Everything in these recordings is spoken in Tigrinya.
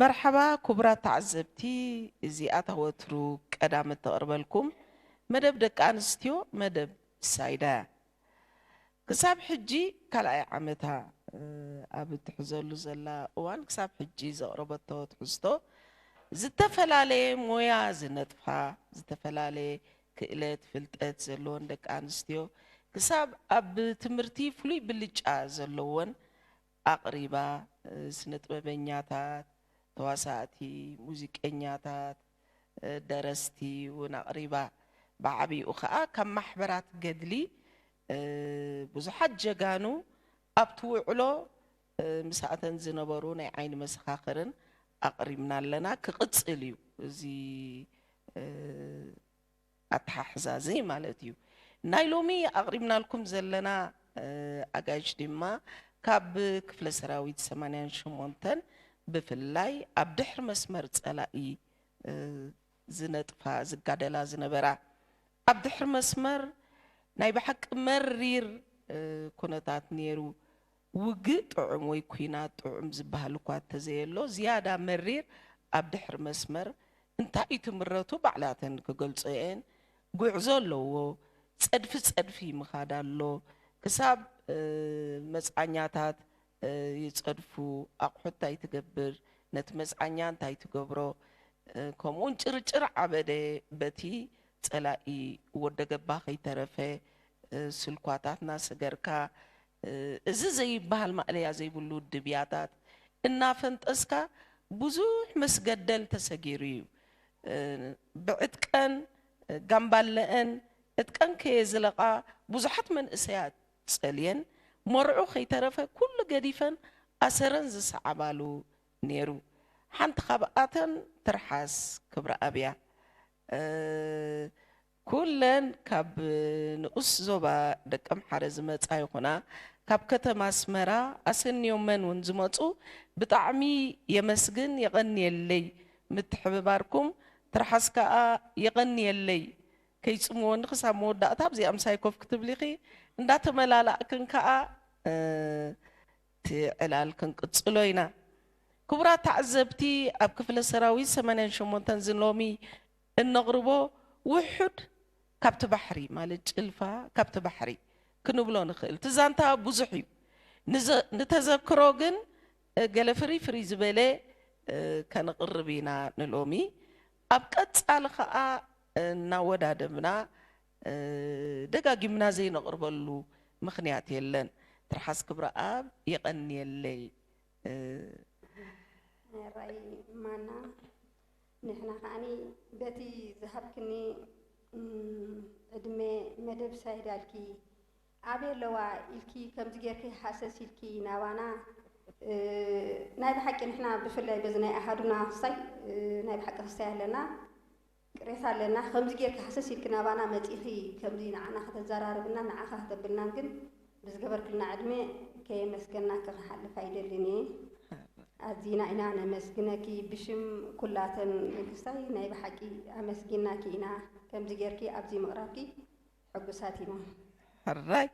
መርሓባ ኩቡራት ተዓዘብቲ እዚ ኣታ ወትሩ ቀዳም እተቅርበልኩም መደብ ደቂ ኣንስትዮ መደብ ሳይዳ እያ ክሳብ ሕጂ ካልኣይ ዓመታ ኣብ እትሕዘሉ ዘላ እዋን ክሳብ ሕጂ ዘቅረበቶ ትሕዝቶ ዝተፈላለየ ሞያ ዝነጥፋ ዝተፈላለየ ክእለት ፍልጠት ዘለወን ደቂ ኣንስትዮ ክሳብ ኣብ ትምህርቲ ፍሉይ ብልጫ ዘለወን ኣቕሪባ፣ ስነጥበበኛታት፣ ተዋሳእቲ፣ ሙዚቀኛታት፣ ደረስቲ ውን ኣቕሪባ፣ ብዓቢኡ ከኣ ካብ ማሕበራት ገድሊ ብዙሓት ጀጋኑ ኣብቲ ውዕሎ ምስኣተን ዝነበሩ ናይ ዓይኒ መሰኻኽርን ኣቕሪብና ኣለና ክቕጽል እዩ እዚ ኣተሓሕዛ እዚ ማለት እዩ። ናይ ሎሚ ኣቕሪብናልኩም ዘለና ኣጋይሽ ድማ ካብ ክፍለ ሰራዊት ሰማንያን ሸሞንተን ብፍላይ ኣብ ድሕሪ መስመር ጸላኢ ዝነጥፋ ዝጋደላ ዝነበራ ኣብ ድሕሪ መስመር ናይ ብሓቂ መሪር ኩነታት ነይሩ። ውግእ ጥዑም ወይ ኲናት ጥዑም ዝበሃል እኳ እተዘየሎ፣ ዝያዳ መሪር ኣብ ድሕሪ መስመር እንታይ እዩ ትምረቱ ባዕላተን ክገልጾኦ'የን፣ ጉዕዞ ኣለዎ፣ ጸድፊ ጸድፊ ምኻድ ኣሎ፣ ክሳብ መጽዓኛታት ይጸድፉ፣ ኣቑሑት እንታይ ትገብር፣ ነቲ መጽዓኛ እንታይ ትገብሮ፣ ከምኡ'ውን ጭርጭር ዓበደ በቲ ጸላኢ ወደገባ ከይተረፈ ስልኳታትና ስገርካ እዚ ዘይብሃል ማእለያ ዘይብሉ ውድብ ያታት እናፈንጠዝካ ብዙሕ መስገደል ተሰጊሩ እዩ። ብዕጥቀን ጋምባለኣን ዕጥቀን ከየዝለቓ ብዙሓት መንእሰያት ጸልየን መርዑ ከይተረፈ ኩሉ ገዲፈን ኣሰረን ዝሰዓባሉ ነይሩ። ሓንቲ ካብኣተን ትርሓስ ክብረኣብ'ያ። ኩለን ካብ ንኡስ ዞባ ደቀምሓረ ዝመጻ ይኹና ካብ ከተማ ኣስመራ ኣሰንዮመን ውን ዝመጹ ብጣዕሚ የመስግን የቐንየለይ ምትሕብባርኩም ትርሓስ ከኣ የቐንየለይ ከይጽምወኒ ክሳብ መወዳእታ ኣብዚኣ ምሳይ ኮፍ ክትብሊኺ እንዳተመላላእክን ከኣ እቲ ዕላል ክንቅጽሎ ኢና ክቡራት ተዓዘብቲ ኣብ ክፍለ ሰራዊት ሰማንያን ሸሞንተን ዝሎሚ እነቕርቦ ውሑድ ካብቲ ባሕሪ ማለት ጭልፋ ካብቲ ባሕሪ ክንብሎ ንኽእል። እቲ ዛንታ ብዙሕ እዩ፣ ንተዘክሮ ግን ገለ ፍርይ ፍርይ ዝበለ ከነቕርብ ኢና ንሎሚ። ኣብ ቀጻሊ ከኣ እናወዳደብና ደጋጊምና ዘይነቕርበሉ ምኽንያት የለን። ትርሓስ ክብረኣብ የቐንየለይ። ሜሮይ ማና ንሕና ከኣ በቲ ዝሃብክኒ ዕድመ መደብ ሳይዳልኪ ኣበይ ኣለዋ ኢልኪ ከምዚ ጌርኪ ሃሰስ ኢልኪ ናባና ናይ ብሓቂ ንሕና ብፍላይ በዚ ናይ ኣሃዱና ክስታይ ናይ ብሓቂ ክስታይ ኣለና ቅሬታ ኣለና ከምዚ ጌርኪ ሃሰስ ኢልኪ ናባና መጺኺ ከምዚ ንዓና ከተዘራርብና ንዓኻ ከተብልናን ግን ብዝገበርክልና ዕድመ ከየመስገናኪ ክሓልፍ ኣይደልን እየ ኣዚና ኢና ነመስግነኪ ብሽም ኩላተን ንግስታይ ናይ ብሓቂ ኣመስጊናኪ ኢና ከምዚ ጌርኪ ኣብዚ ምቕራብኪ ሕጉሳት ኢና ሕራይ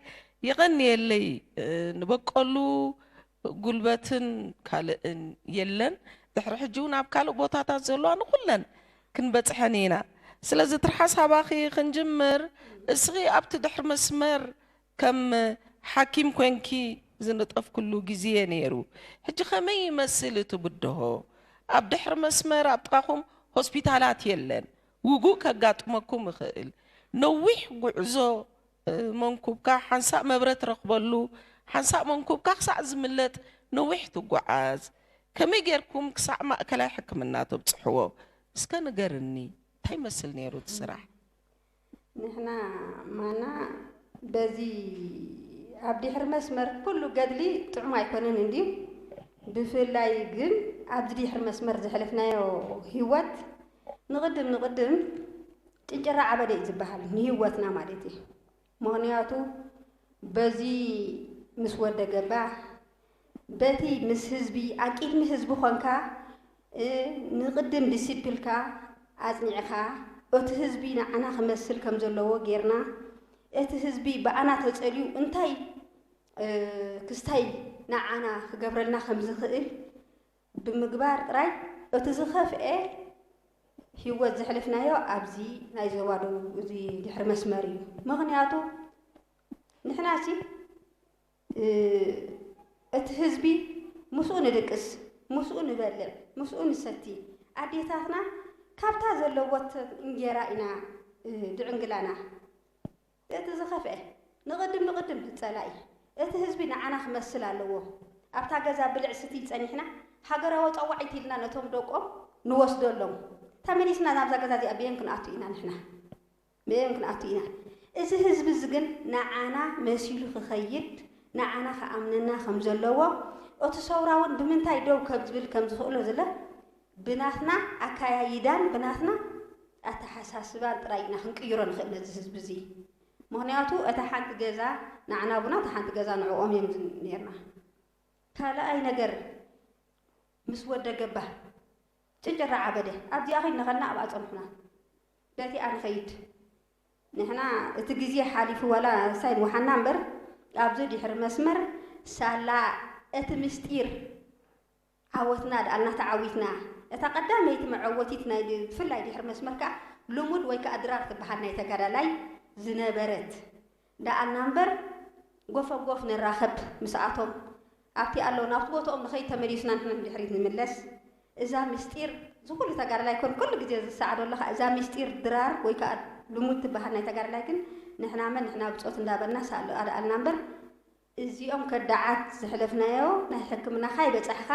የቐንየለይ ንበቀሉ ጉልበትን ካልእን የለን ድሕሪ ሕጂ እውን ኣብ ካልእ ቦታታት ዘለዋ ንኹለን ክንበፅሐን ኢና ስለዚ ትርሓስ ሃባኺ ክንጅምር እስኺ ኣብቲ ድሕሪ መስመር ከም ሓኪም ኮንኪ ዝነጠፍክሉ ግዝየ ነይሩ ሕጂ ከመይ ይመስል እቲ ብድሆ ኣብ ድሕሪ መስመር ኣብ ጥቃኹም ሆስፒታላት የለን ውጉእ ከጋጥመኩም ይኽእል ነዊሕ ጉዕዞ መንኩብካ ሓንሳእ መብረ ትረኽበሉ ሓንሳእ መንኩብካ ክሳዕ ዝምለጥ ነዊሕ ትጉዓዝ ከመይ ጌርኩም ክሳዕ ማእከላይ ሕክምና ተብጽሕዎ እስከ ንገርኒ እንታይ ይመስል ነይሩ እቲ ስራሕ። ንሕና ማና በዚ ኣብ ዲሕሪ መስመር ኩሉ ገድሊ ጥዑም ኣይኮነን እንድዩ ብፍላይ ግን ኣብዚ ዲሕሪ መስመር ዘሕለፍናዮ ህይወት ንቕድም ንቕድም ጭንጭራ ዓበደ እዩ ዝበሃል ንህይወትና ማለት እዩ ምኽንያቱ በዚ ምስ ወደገባ በቲ ምስ ህዝቢ ኣብ ቂድሚ ህዝቢ ኮንካ እ ንቅድም ዲሲፕልካ ኣጽኒዕካ እቱ ህዝቢ ንዓና ክመስል ከም ዘለዎ ጌርና እቲ ህዝቢ ብኣና ተጸልዩ እንታይ እ ክስታይ ንዓና ክገብረልና ከም ዝክእል ብምግባር ጥራይ እቱ ዝከፍኤ ሂወት ዘሕለፍናዮ ኣብዚ ናይ ዞባ ደቡብ እዚ ድሕሪ መስመር እዩ ምክንያቱ ንሕና ሲ እቲ ህዝቢ ምስኡ ንድቅስ፣ ምስኡ ንበልዕ፣ ምስኡ ንሰቲ፣ ኣዴታትና ካብታ ዘለወተን እንጌራ ኢና ድዕንግላና። እቲ ዝኸፍኤ ንቕድም ንቕድም ጸላኢ እቲ ህዝቢ ንዓና ክመስል ኣለዎ። ኣብታ ገዛ ብልዕ ስትይ ጸኒሕና ሃገራዊ ጸዋዒት ኢልና ነቶም ደቆም ንወስደሎም። ተመሊስና ናብዛ ገዛ እዚኣ ብየን ክንኣቱ ኢና ንሕና። ምእም ክንኣቱ ኢና እዚ ህዝቢ እዚ ግን ንዓና መሲሉ ክኸይድ ንዓና ክኣምነና ከም ዘለዎ እቱ ሰውራ እውን ብምንታይ ደው ከብዝብል ከም ዝኽእሎ ዝለ ብናትና ኣካያይዳን ብናትና ኣተሓሳስባን ጥራይ ኢና ክንቅይሮ ንኽእል ነዚ ህዝቢ እዚ ምክንያቱ እታ ሓንቲ ገዛ ንዓና ቡና እታ ሓንቲ ገዛ ንዕኦም እዮም ነርና ካልኣይ ነገር ምስ ወደ ገባ ጭንጭራ ዓበደ ኣብዚኣ ኸይድና ከልና ኣብኣ ፀንሑና ገቲኣ ንኸይድ ንሕና እቲ ግዜ ሓሊፉ ዋላ ሳይድ ወሓና እምበር ኣብዚ ድሕሪ መስመር ሳላ እቲ ምስጢር ዓወትና ድኣ እና ተዓዊትና እታ ቀዳመይቲ መዐወቲት ናይ ብፍላይ ድሕሪ መስመር ከኣ ልሙድ ወይ ከኣ ድራር ትበሃል ናይ ተጋዳላይ ዝነበረት ደኣልና እምበር ጎፈጎፍ ንራኸብ ምስኣቶም ኣብቲ ኣለዉ ናብቲ ቦትኦም ንኸይድ ተመሊስና ንሕና ንድሕሪት ንምለስ እዛ ምስጢር ዝኹሉ ተጋዳላይ ኮን ኩሉ ግዜ ዝሰዓዶ ኣለኻ እዛ ምስጢር ድራር ወይ ከኣ ልሙድ ትበሃል ናይ ተጋዳላይ ግን ንሕና መን ንሕና ብጾት እንዳበልና ሳኣሎ ኣደኣልና እምበር እዚኦም ከዳዓት ዝሕለፍናዮ ናይ ሕክምናኻ ይበጻሕኻ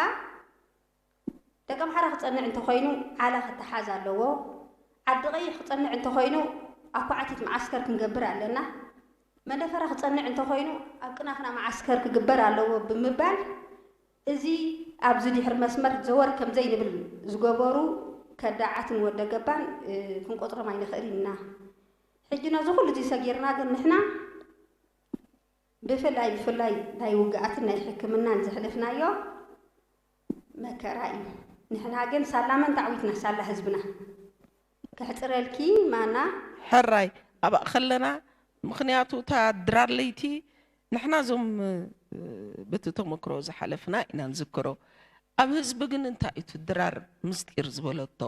ደቀ ኣምሓራ ክጸንዕ እንተኾይኑ ዓላ ክተሓዝ ኣለዎ ዓዲ ቀይሕ ክጸንዕ እንተኾይኑ ኣብ ኳዕቲት መዓስከር ክንገብር ኣለና መንደፈራ ክጸንዕ እንተኾይኑ ኣብ ቅናክና መዓስከር ክግበር ኣለዎ ብምባል እዚ ኣብዚ ድሕሪ መስመር ዘወር ከምዘይንብል ዝገበሩ ከዳዓትን ወደ ገባን ክንቆጽሮም ኣይንኽእልን ኢና ሕጂ ነዚ ኩሉ እዚ ሰጊርና ግን ንሕና ብፍላይ ብፍላይ ናይ ውግኣትን ናይ ሕክምናን ዘሕለፍናዮ መከራ እዩ ንሕና ግን ሳላ መን ታዕዊትና ሳላ ህዝብና ከሕጽረልኪ ማና። ሕራይ ኣብኣ ከለና ምኽንያቱ እታ ድራር ለይቲ ንሕና እዞም በቲ ተመክሮ ዝሓለፍና ኢና ንዝክሮ ኣብ ህዝቢ ግን እንታይ እዩ ድራር ምስጢር ዝበለቶ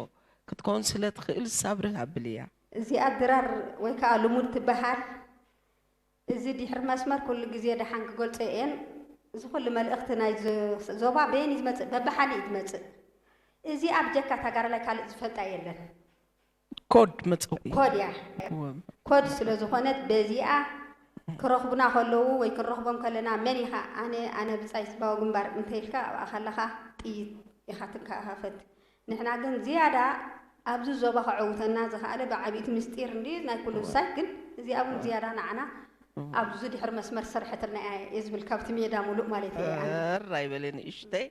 ክትከውን ስለ ትኽእል ሳብርህ ኣብልያ። እዚኣ ድራር ወይ ከኣ ልሙድ ትበሃል። እዚ ዲሕሪ መስመር ኩሉ ግዜ ደሓን ክገልጾ እየን እዚ ኩሉ መልእኽቲ ናይ ዞባ በየን እዩ ዝመጽእ በብሓደ እዩ ዝመጽእ እዚኣ ብጀካ ታጋርላይ ካልእ ዝፈልጣ የለን። ኮድ መጸውዒ ኮድ እያ ኮድ ስለ ዝኾነት በዚኣ ክረኽቡና ከለዉ ወይ ክንረኽቦም ከለና መን ኢኻ ኣነ ኣነ ብጻይ ህዝባዊ ግንባር እንተ ኢልካ ኣብኣ ከለኻ ጥይት ኢኻ ትከፋፈት ንሕና ግን ዝያዳ ኣብዚ ዞባ ከዕውተና ዝኸኣለ ብዓቢይቲ ምስጢር እንድዩ ናይ ኩሉ ዝሳይ ግን እዚኣ ውን ዝያዳ ንዓና ኣብዚ ድሕሪ መስመር ዝሰርሐትልና እያ እየ ዝብል ካብቲ ሜዳ ሙሉእ ማለተይ እየ ኣነ። ተር ኣይበሊ ንእሽተይ።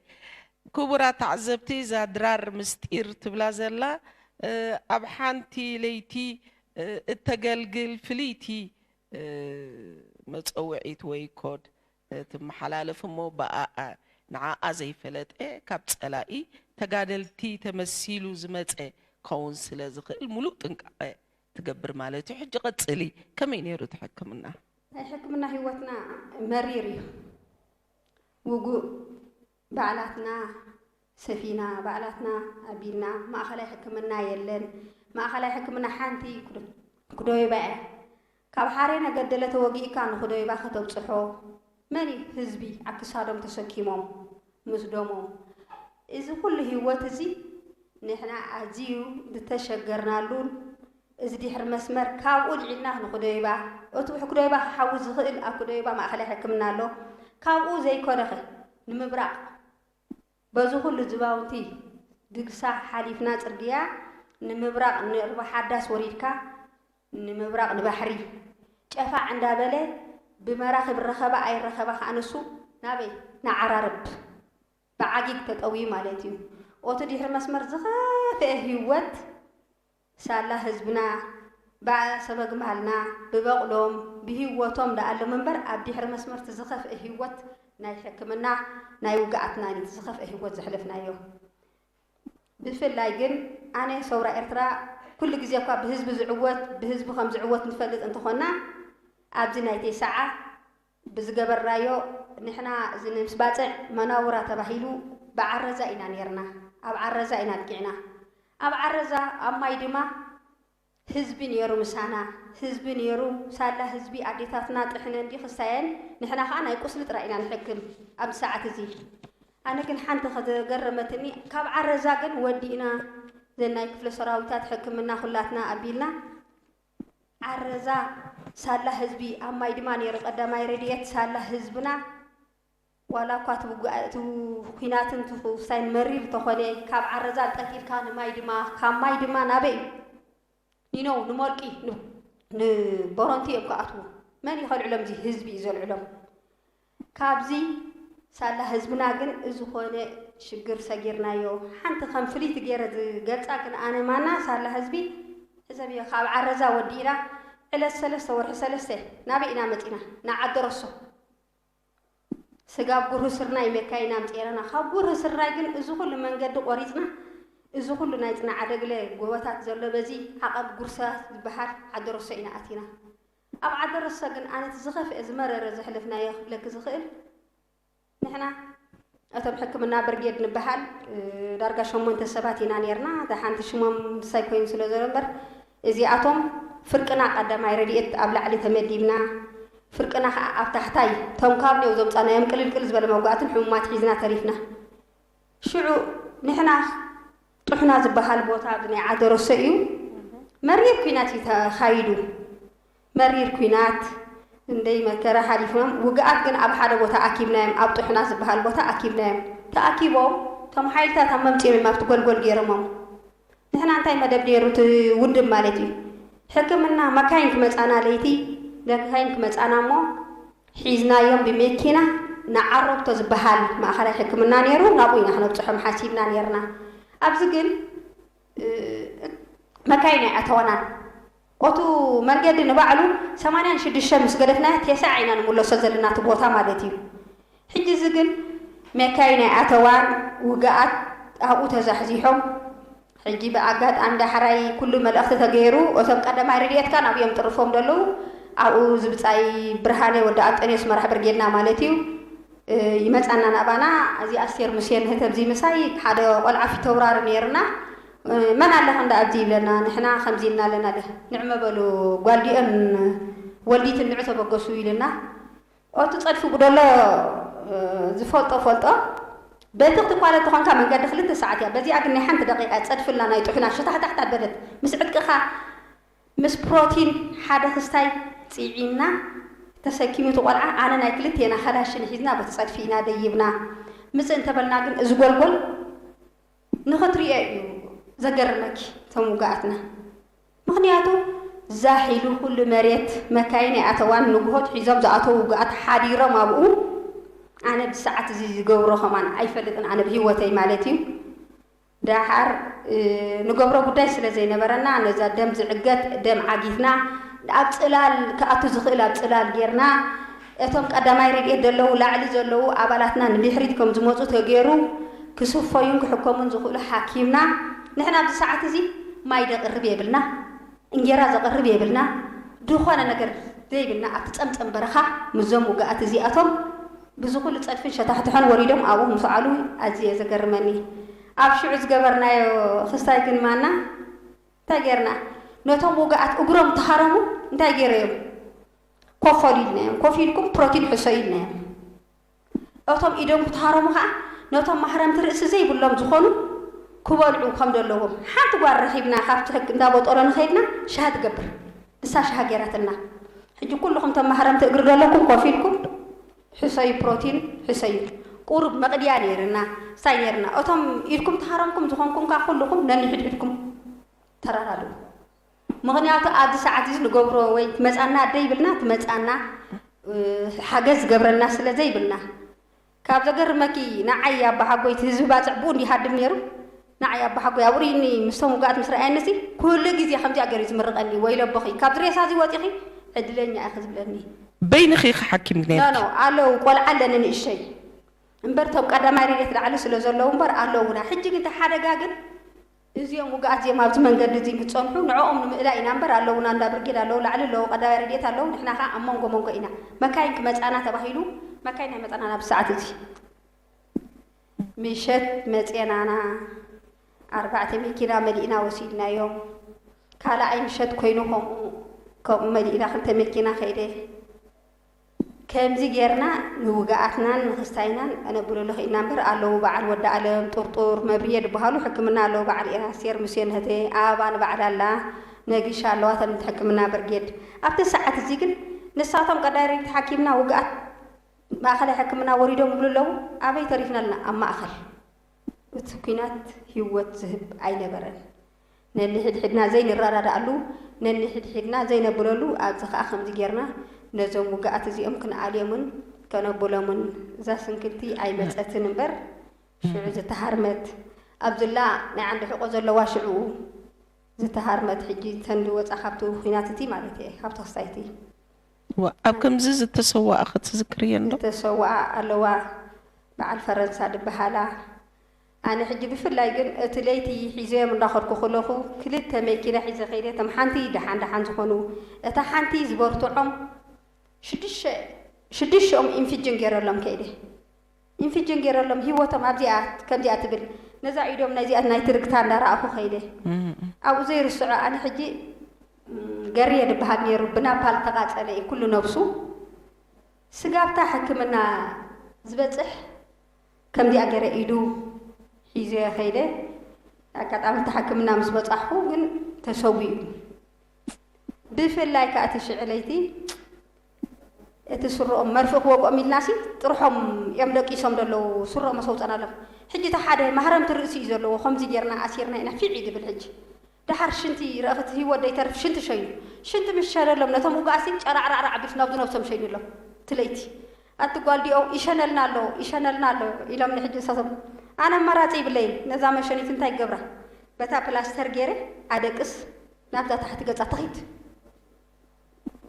ክቡራት ተዓዘብቲ እዛ ድራር ምስጢር ትብላ ዘላ ኣብ ሓንቲ ለይቲ እተገልግል ፍልይቲ መጸውዒት ወይ ኮድ ትመሓላለፍ እሞ ብኣኣ ንዓኣ ዘይፈለጠ ካብ ፀላኢ ተጋደልቲ ተመሲሉ ዝመፀ ክኸውን ስለ ዝኽእል ሙሉእ ጥንቃቐ ትገብር ማለት እዩ ሕጂ ቀፅሊ ከመይ ነይሩ እቲ ሕክምና? ናይ ሕክምና ሂወትና መሪር እዩ ውጉእ ባዕላትና ሰፊና ባዕላትና ኣቢልና ማእኸላይ ሕክምና የለን ማእኸላይ ሕክምና ሓንቲ ኩዶይባ እያ ካብ ሓሬነ ገደለ ተወጊእካ ንኹዶይባ ከተብፅሖ መን እዩ ህዝቢ ኣብ ክሳዶም ተሰኪሞም ምስ ደሞም እዚ ኩሉ ህይወት እዚ ንሕና ኣዝዩ ዝተሸገርናሉን እዚ ዲሕሪ መስመር ካብኡ ልዒልና ክንኩደዩባ እቱ ብሕኩደዩባ ክሓዊ ዝክእል ኣብ ኩደዩባ ማእከላይ ሕክምና ኣሎ ካብኡ ዘይኮነኸ ንምብራቅ በዙ ኩሉ ዝባውንቲ ግግሳ ሓሊፍና ፅርግያ ንምብራቅ ንርባሓዳስ ወሪድካ ንምብራቅ ንባሕሪ ጨፋዕ እንዳበለ ብመራክብ ይረከባ ኣይረከባ ካዓ ንሱ ናበይ ንዓራርብ ብዓጊግ ተጠውዩ ማለት እዩ ኦቱ ዲሕሪ መስመር ዝከፈኤ ህወት ሳላ ህዝብና ባእ ሰበግማልና ብበቕሎም ብሂወቶም ደኣሎም እምበር ኣብ ዲሕሪ መስመር እቲ ዝኸፍኤ ሂወት ናይ ሕክምና ናይ ውግኣትናን እዩ እቲ ዝኸፍኤ ሂወት ዘሕለፍናዮ ብፍላይ ግን ኣነ ሰውራ ኤርትራ ኩሉ ግዜ እኳ ብህዝቢ ዝዕወት ብህዝቢ ከም ዝዕወት ንፈልጥ እንተኾና ኣብዚ ናይ ቴሰዓ ብዝገበርናዮ ንሕና እዚ ምስ ባጽዕ መናውራ ተባሂሉ ብዓረዛ ኢና ኔርና ኣብ ዓረዛ ኢና ኣብቂዕና ኣብ ዓረዛ ኣብ ማይ ድማ ህዝቢ ኔሩ ምሳና ህዝቢ ኔሩ ሳላ ህዝቢ ኣዴታትና ጥሕነን ድዩ ክሳየን ንሕና ከኣ ናይ ቁስሊ ጥራይ ኢና ንሕክም ኣብዚ ሰዓት እዚ ኣነ ግን ሓንቲ ከዘገረመትኒ ካብ ዓረዛ ግን ወዲእና ዘናይ ክፍለ ሰራዊታት ሕክምና ኩላትና ኣቢልና ዓረዛ ሳላ ህዝቢ ኣብ ማይ ድማ ነይሩ ቀዳማይ ረድኤት ሳላ ህዝብና ዋላ እኳ እቲ ኩናትን ትኩሳይን መሪር እንተኾነ ካብ ዓረዛ ጠልጢልካ ንማይ ድማ ካብ ማይ ድማ ናበይ እዩ ኒነው ንሞርቂ ንቦሮንቲ እዮም ክኣትዉ መን ይኸልዕሎም እዚ ህዝቢ እዩ ዘልዕሎም ካብዚ ሳላ ህዝብና ግን እዚ ኮነ ሽግር ሰጊርናዮ። ሓንቲ ከም ፍልይቲ ገይረ ዝገልጻ ግን ኣነ ማና ሳላ ህዝቢ ሕዘብዮ ካብ ዓረዛ ወዲእና ዕለት ሰለስተ ወርሒ ሰለስተ ናበይ ኢና መጺና ንዓደሮሶ ስጋብ ጉርህ ስርናይ መካይ ኢና ኣምጺኤራና ካብ ጉርህ ስርናይ ግን እዚ ኩሉ መንገዲ ቆሪጽና እዚ ኩሉ ናይ ጽናዓደግለ ጎበታት ዘሎ በዚ ዓቐብ ጉርሳ ዝበሃል ዓደሮሶ ኢና ኣቲና። ኣብ ዓዲ ርሰ ግን ኣነ እቲ ዝኸፍኤ ዝመረረ ዘሕለፍናዮ ክብለኪ ዝኽእል ንሕና እቶም ሕክምና ብርጌድ ንበሃል ዳርጋ ሸሞንተ ሰባት ኢና ኔርና ደሓንቲ ሽሞም ንሳይ ኮይኑ ስለ ዘሎ እምበር እዚኣቶም ፍርቅና ቀዳማይ ረድኤት ኣብ ላዕሊ ተመዲብና ፍርቅና ከኣ ኣብ ታሕታይ እቶም ካብሊኦ ዘምጻናዮም ቅልልቅል ዝበለ መውጋእትን ሕሙማት ሒዝና ተሪፍና ሽዑ ንሕና ጡሕና ዝበሃል ቦታ ኣብ ናይ ዓደሮሶ እዩ መሪር ኩናት እዩ ተኻይዱ መሪር ኩናት እንደይ መከራ ሓሊፎም ውግኣት ግን ኣብ ሓደ ቦታ ኣኪብናዮም ኣብ ጡሕና ዝበሃል ቦታ ኣኪብናዮም ተኣኪቦም እቶም ሓይልታት ኣብ መምፂኦም እዮም ኣብቲ ጎልጎል ገይሮሞም ንሕና እንታይ መደብ ነይሩ እቲ ውድብ ማለት እዩ ሕክምና መካይን ክመፃና ለይቲ መካይን ክመፃና እሞ ሒዝናዮም ብመኪና ንዓረብቶ ዝበሃል ማእኸላይ ሕክምና ነይሩ፣ ናብኡ ኢና ክነብፅሖም ሓሲብና ነይርና። ኣብዚ ግን መካይን ኣይኣተዋናን። ኦቱ መንገዲ ንባዕሉ ሰማንያን ሽዱሽተን ምስ ገደፍናያ ቴስዓ ኢና ንምለሶ ዘለና እቲ ቦታ ማለት እዩ። ሕጂ እዚ ግን መካይን ኣይኣተዋን፣ ውግኣት ኣብኡ ተዛሕዚሖም። ሕጂ ብኣጋጣሚ ዳሕራይ ኩሉ መልእኽቲ ተገይሩ እቶም ቀዳማይ ረድኤትካ ናብኡ እዮም ጥርፎም ዘለዉ ኣብኡ እዚ ብጻይ ብርሃነ ወዲ ኣንጠንዮስ መራሕ ብርጌድና ማለት እዩ ይመጻና ናባና እዚ ኣስቴር ሙሴ ንህተብዚ ምሳይ ሓደ ቆልዓ ፊተውራሪ ነይርና መን ኣለ ክንዲ ኣብዚ ይብለና ንሕና ከምዚ እና ኣለና ንዕመ በሉ ጓልዲኦም ወልዲት እንዑ ተበገሱ ኢሉና ኦቲ ጸድፊ ጉደሎ ዝፈልጦ ፈልጦ በቲ ክትኳለ ተኾንካ መንገዲ ክልተ ሰዓት እያ በዚኣ ግን ናይ ሓንቲ ደቂቃ እያ ጸድፊ እልና ናይ ጡሕና ሸታሕታሕት ኣበለት ምስ ዕጥቅኻ ምስ ፕሮቲን ሓደ ክስታይ ጺዒና ተሰኪሙ እቲ ቆልዓ ኣነ ናይ ክልቴና ካላሽን ሒዝና በቲ ጸድፊ ኢና ደይብና ምጽእ እንተበልና ግን እዚ ጎልጎል ንኽትሪኦ እዩ ዘገርመኪ እቶም ውጉኣትና ምኽንያቱ ዛሒሉ ኩሉ መሬት መካይን ኣይኣተዋን ንጉሆ ትሒዞም ዝኣተዉ ውጉኣት ሓዲሮም ኣብኡ ኣነ ብሰዓት እዚ ዝገብሮ ከማን ኣይፈልጥን ኣነ ብሂወተይ ማለት እዩ ዳሓር ንገብሮ ጉዳይ ስለ ዘይነበረና ነዛ ደም ዝዕገት ደም ዓጊትና ኣብ ጽላል ክኣቱ ዝኽእል ኣብ ጽላል ጌርና እቶም ቀዳማይ ረድኤት ደለዉ ላዕሊ ዘለዉ ኣባላትና ንድሕሪት ከም ዝመጹ ተገይሩ ክስፈዩን ክሕከሙን ዝኽእሉ ሓኪምና ንሕና ኣብዚ ሰዓት እዚ ማይ ደቅርብ የብልና እንጌራ ዘቅርብ የብልና ድኾነ ነገር ዘይብልና ኣብቲ ጸምጸም በረኻ ምስዞም ውግኣት እዚኣቶም ብዝኹሉ ጸድፍን ሸታሕትሖን ወሪዶም ኣብኡ ምስዓሉ ኣዝዩ እየ ዘገርመኒ ኣብ ሽዑ ዝገበርናዮ ክስታይ ግን ማና እንታይ ጌርና ነቶም ውግኣት እግሮም ተሃረሙ እንታይ ገይረዮም ኮፍ በሉ ኢልናዮም፣ ኮፍ ኢልኩም ፕሮቲን ሕሰዩ ኢልናዮም። እቶም ኢዶም ክትሃረሙ ከኣ ነቶም ማህረምቲ ርእሲ ዘይብሎም ዝኾኑ ክበልዑ ከም ደለዎም ሓንቲ ጓል ረኺብና ካብቲ ሕግ እንዳ ቦጦሎ ንኸድና ሻሂ ትገብር ንሳ ሻሂ ገይራትና ሕጂ ኩሉኹም እቶም ማህረምቲ እግሪ ደለኩም ኮፍ ኢልኩም ሕሰዩ ፕሮቲን ሕሰዩ ቁሩብ መቕድያ ነይርና ሳይ ነይርና እቶም ኢድኩም ተሃረምኩም ዝኾንኩም ከኣ ኩሉኹም ነንሕድሕድኩም ተራዳድኡ። ምኽንያቱ ኣብዚ ሰዓት እዚ ንገብሮ ወይ ትመጻና ኣደ ይብልና ትመጻና ሓገዝ ዝገብረልና ስለ ዘይብልና ካብ ዘገርመኪ ንዓይ ኣባሓጎይ እቲ ህዝቢ ባጽዕ ብኡ እንዲሃድም ነይሩ ንዓይ ኣባሓጎይ ኣብኡ ርኢኒ ምስቶም ውግኣት ምስ ረኣየኒ እዚ ኩሉ ግዜ ከምዚኣ ገይሩ ዝምርቐኒ ወይለቦኺ ካብዚ ሬሳ እዚ ወጺኺ ዕድለኛ ኢኺ ዝብለኒ በይንኺ ኢኺ ሓኪም ኖ ነይርኪ። ኖ ኣለዉ ቆልዓ ኣለኒ ንእሽተይ እምበር እቶም ቀዳማይ ረድኤት ላዕሊ ስለ ዘለዉ እምበር ኣለዉና ሕጂ ግን እቲ ሓደጋ ግን እዚኦም ውጉኣት እዚኦም ኣብዚ መንገዲ እዚ እንክጸንሑ ንዕኦም ንምእላይ ኢና እምበር ኣለውና እንዳ ብርጌድ ኣለው ላዕሊ ኣለው ቀዳማይ ረድኤት ኣለው ንሕና ከኣ ኣብ መንጎ መንጎ ኢና መካይን ክመጻና ተባሂሉ መካይን ኣይመጻናን ኣብዚ ሰዓት እዚ ምሸት መጼናና ኣርባዕተ መኪና መሊእና ወሲድናዮም ካልኣይ ምሸት ኮይኑ ከምኡ ከምኡ መሊእና ክልተ መኪና ከይደ ከምዚ ጌርና ንውግኣትናን ንክስታይናን ከነጉልሎ ኽኢልና እምበር ኣለዉ በዓል ወዲ ኣለም፣ ጡርጡር፣ መብርየ ድበሃሉ ሕክምና ኣለዉ በዓል ኢራስቴር፣ ምስዮን እህቴ ኣበባ ንባዕላ ኣላ፣ ነጊሻ ኣለዋ እተን ሕክምና ብርጌድ። ኣብቲ ሰዓት እዚ ግን ንሳቶም ቀዳሪብ ተሓኪምና ውግኣት ማእኸላይ ሕክምና ወሪዶም ይብሉ ኣለዉ ኣበይ ተሪፍና ኣለና ኣብ ማእኸል። እቲ ኲናት ህይወት ዝህብ ኣይነበረን። ነንሕድሕድና ዘይንረዳዳኣሉ፣ ነንሕድሕድና ዘይነብለሉ፣ ኣብዚ ከኣ ከምዚ ጌርና ነዞም ውግኣት እዚኦም ክንኣልዮምን ከነብሎምን እዛ ስንክልቲ ኣይመጸትን እምበር ሽዑ ዝተሃርመት ኣብዝላ ናይ ዓንዲ ሕቆ ዘለዋ ሽዑኡ ዝተሃርመት ሕጂ ተንዲ ወጻ ካብቲ ኩናት እቲ ማለት እየ ካብቲ ክስታይ እቲ እወ ኣብ ከምዚ ዝተሰወኣ ክትዝክርየንዶ? ዝተሰወኣ ኣለዋ በዓል ፈረንሳ ድበሃላ። ኣነ ሕጂ ብፍላይ ግን እቲ ለይቲ ሒዘዮም እንዳኸድኩ ክለኹ ክልተ መኪና ሒዘ ከይደ እቶም ሓንቲ ደሓን ደሓን ዝኾኑ እታ ሓንቲ ዝበርትዖም ሽዱሽተ ሽዱሽተኦም ኢንፍጅን ገይረሎም ከይደ ኢንፍጅን ገይረሎም ሂወቶም ኣብዚኣ ከምዚኣ ትብል ነዛ ኢዶም ናይዚኣ ናይ ትርግታ እንዳረኣኹ ከይደ ኣብኡ ዘይርስዖ ኣነ ሕጂ ገርየ ድበሃል ነይሩ ብናፓል ተቃጸለ እዩ ኩሉ ነብሱ ስጋብታ ሕክምና ዝበጽሕ ከምዚኣ ገይረ ኢዱ ሒዘዮ ከይደ ኣጋጣሚ እቲ ሕክምና ምስ በጻሕኩ ግን ተሰዊኡ ብፍላይ ከዓ እቲ ሽዕለይቲ እቲ ስርኦም መርፍእ ክወቅኦም ኢልናሲ ጥርሖም እዮም ደቂሶም ዘለዉ ስርኦም ኣሰውፀናሎም ሕጂ እቲ ሓደ ማህረምቲ ርእሲ እዩ ዘለዎ ከምዚ ጌርና ኣሲርና ኢና ፊዕ ይድብል ሕጂ ደሓር ሽንቲ ረእኽቲ ሂወት ደይተርፍ ሽንቲ ሸይኑ ሽንቲ ምስ ሸነሎም ነቶም ውጉኣሲን ጨራዕራዕራዕ ኣቢልሲ ናብዚ ነብሶም ሸይኑሎም እቲ ለይቲ ኣቲ ጓል ዲኦው ይሸነልና ኣሎ ይሸነልና ኣሎ ኢሎምኒ ሕጂ ንሳቶም ኣነ ኣማራጺ ይብለይን ነዛ መሸኒት እንታይ ክገብራ በታ ፕላስተር ጌረ ኣደቅስ ናብዛ ታሕቲ ገጻ ትኺድ።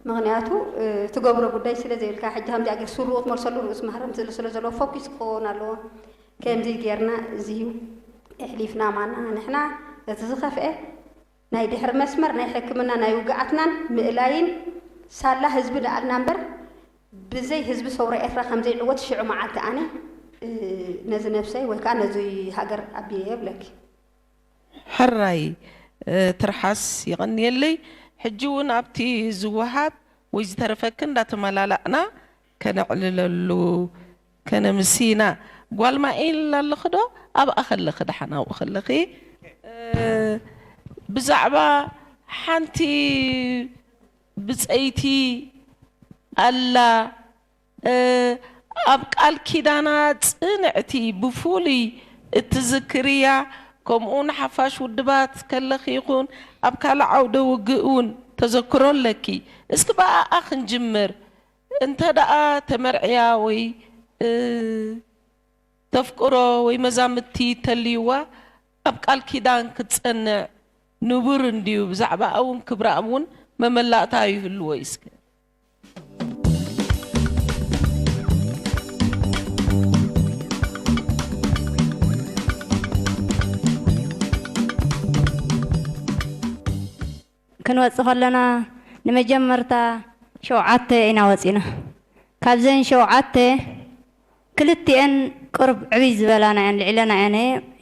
ምኽንያቱ ትገብሮ ጉዳይ ስለ ዘይብልካ ሕጂ ከምዚኣ ጌር ሱሩ ክትመልሰሉ ርእሱ ማህረምቲ ዝል ስለ ዘለዎ ፎኪስ ክኸውን ኣለዎ ከምዚ ጌርና እዚ እሕሊፍና ማና ንሕና እቲ ዝኸፍኤ ናይ ድሕሪ መስመር ናይ ሕክምና ናይ ውግኣትናን ምእላይን ሳላ ህዝቢ ደኣልና እምበር ብዘይ ህዝቢ ሰውራ ኤርትራ ከም ዘይዕወት ሽዑ መዓልቲ ኣነ ነዚ ነብሰይ ወይ ከዓ ነዚ ሃገር ኣቢየ የብለኪ ሕራይ ትርሓስ የቐንየለይ ሕጂ ውን ኣብቲ ዝወሃብ ወይ ዝተረፈኪ እንዳተመላላእና ከነዕልለሉ ከነምስይና ጓል ማይል ኣለኺ ዶ ኣብኣ ከለኺ ደሓን ኣብኡ ከለኺ ብዛዕባ ሓንቲ ብጸይቲ ኣላ ኣብ ቃል ኪዳና ጽንዕቲ ብፉሉይ እትዝክርያ ከምኡ ውን ሓፋሽ ውድባት ከለኺ ይኹን ኣብ ካልእ ዓውደ ውግእ ውን ተዘክሮ ኣለኪ እስኪ ብኣኣ ክንጅምር እንተ ደኣ ተመርዕያ ወይ ተፍቅሮ ወይ መዛምድቲ ተልይዋ ኣብ ቃል ኪዳን ክትጸንዕ ንቡር እንድዩ ብዛዕባኣ ውን ክብራኣ ውን መመላእታ ይህልዎ እዩ እስከ ክንወፅእ ከለና ንመጀመርታ ሸውዓተ ኢና ወፂና ካብዘን ሸውዓተ ክልቲኤን ቅሩብ ዕብይ ዝበላና እየን ልዒለና እየን